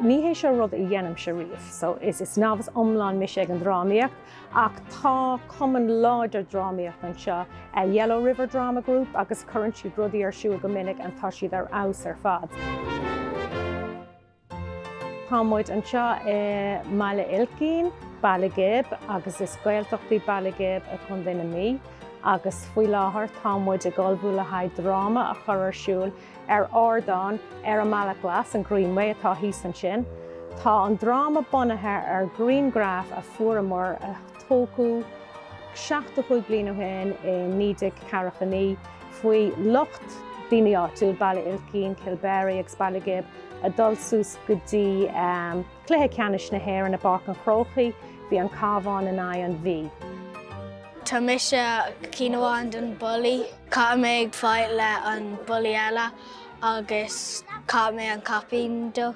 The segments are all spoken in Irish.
Ní hé seo rud a dhéanaimse riamh so is novice iomlán mise ag an drámaíocht ach tá cumann láidir drámaíochta anseo, an Yellow River Drama Group agus cuireann siad rudaí ar siúl go minic and tá siad ar fheabhas ar fad. Tá muid anseo i mBaile Uilcín, Baile Ghib agus is Gaeltacht í Baile Ghib i gContae na Mí agus faoi láthair tá muid ag ullmhú le haghaidh dráma a chur ar siúl ar ardán ar an mBealach Glas, an Greenway atá thíos ansin. Tá an dráma bunaithe ar ghrianghraif a fuaireamar a tógadh seachtó cúig bliain ó shin i naoi déag ceathracha naoi faoi lucht daoine áitiúil Baile Uilcín, Kilberry agus Baile Ghib a dhul suas go dtí cluiche ceannais na hÉireann i bPáirc an Chrócaigh. Bhí an Cabhán in aghaidh an Mhí. Tá mise ceann amháin den bullaí. Caithfidh mé ag fight le an bullaí eile agus caithfidh mé an caipín dó.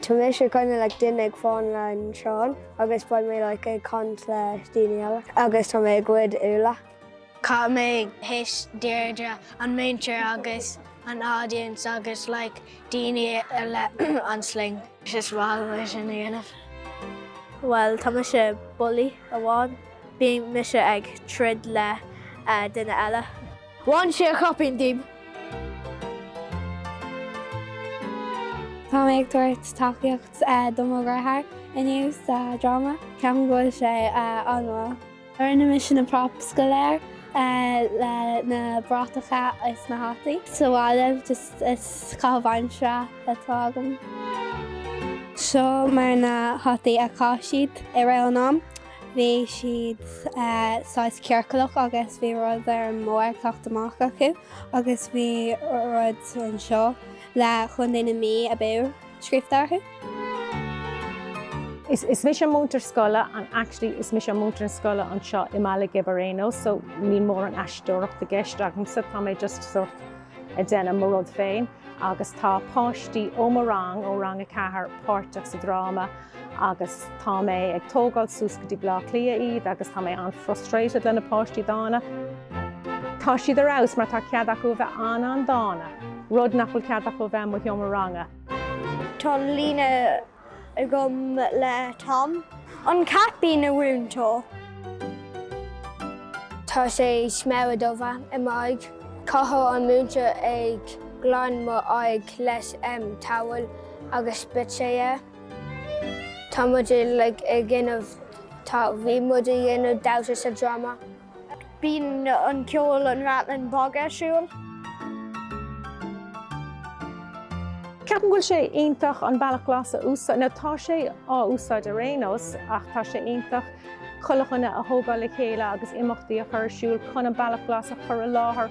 Tá mise kinda like duine ag fan le an traein agus beidh mé like ag caint le daoine eile agus tá mé ag goid úlla. Caithfidh mé ag hit Deirdre an múinteoir agus an audience agus like daoine le an sling. Is maith liom é sin a dhéanamh. Bhuel, tá mise bullaí amháin. Bhí mise ag troid le duine eile. Bhain sé a chaipín díom. Tá mé ag tabhairt tacaíocht do mo dheartháir inniu sa dráma. Ceapaim go bhfuil sé an-mhaith. Rinne mise na props go léir le na bratacha is na hataí. Sa bhaile just is caitheamh aimsire atá agam. Seo mar na hataí a chaith siad i rith an am. Bhí siad saghas ciorcalach agus bhí rud ar an mbarr ag teacht amach acu agus bhí rud anseo le Chontae na Mí abú. scríobhta orthu. Is mise an múinteoir scoile and actually is mise an múinteoir scoile anseo i mBaile Ghib ar aon nós so níl mórán aisteoireacht i gceist agamsa, tá mé just sórt ag déanamh mo rud féin agus tá páistí ó mo rang, ó rang a ceathair, páirteach sa dráma. agus tá mé ag tógáil suas go dtí Bleá Cliath iad agus tá mé an-frustrated le na páistí dána. Tá siad ar fheabhas mar tá cead acu a bheith an-an-dána, rud nach bhfuil cead acu a bheith i mo sheomra ranga. Tá líne agam le Tom. An cat buí, a mhúinteoir. Tá sé smear dubh i m'aghaidh. Caithfidh an múinteoir ag glan m'aghaidh leis towel agus beidh sé air. Tá muid uilig ag déanamh, tá, bhí muid ag déanamh damhsa sa dráma. Bíonn an ceol, an rattling bog ar siúl. Ceapaim go bhfuil sé iontach an Bealach Glas a úsáid, nó tá sé á úsáid ar aon nós ach tá sé iontach chuile dhuine a thógáil le chéile agus imeachtaí a chur ar siúl chun an Bealach Glas a chur i láthair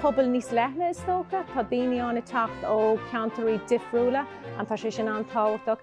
pobal níos leithne is dócha. Tá daoine ann ag teacht ó cheantairí difriúla. Tá sé sin an-tábhachtach.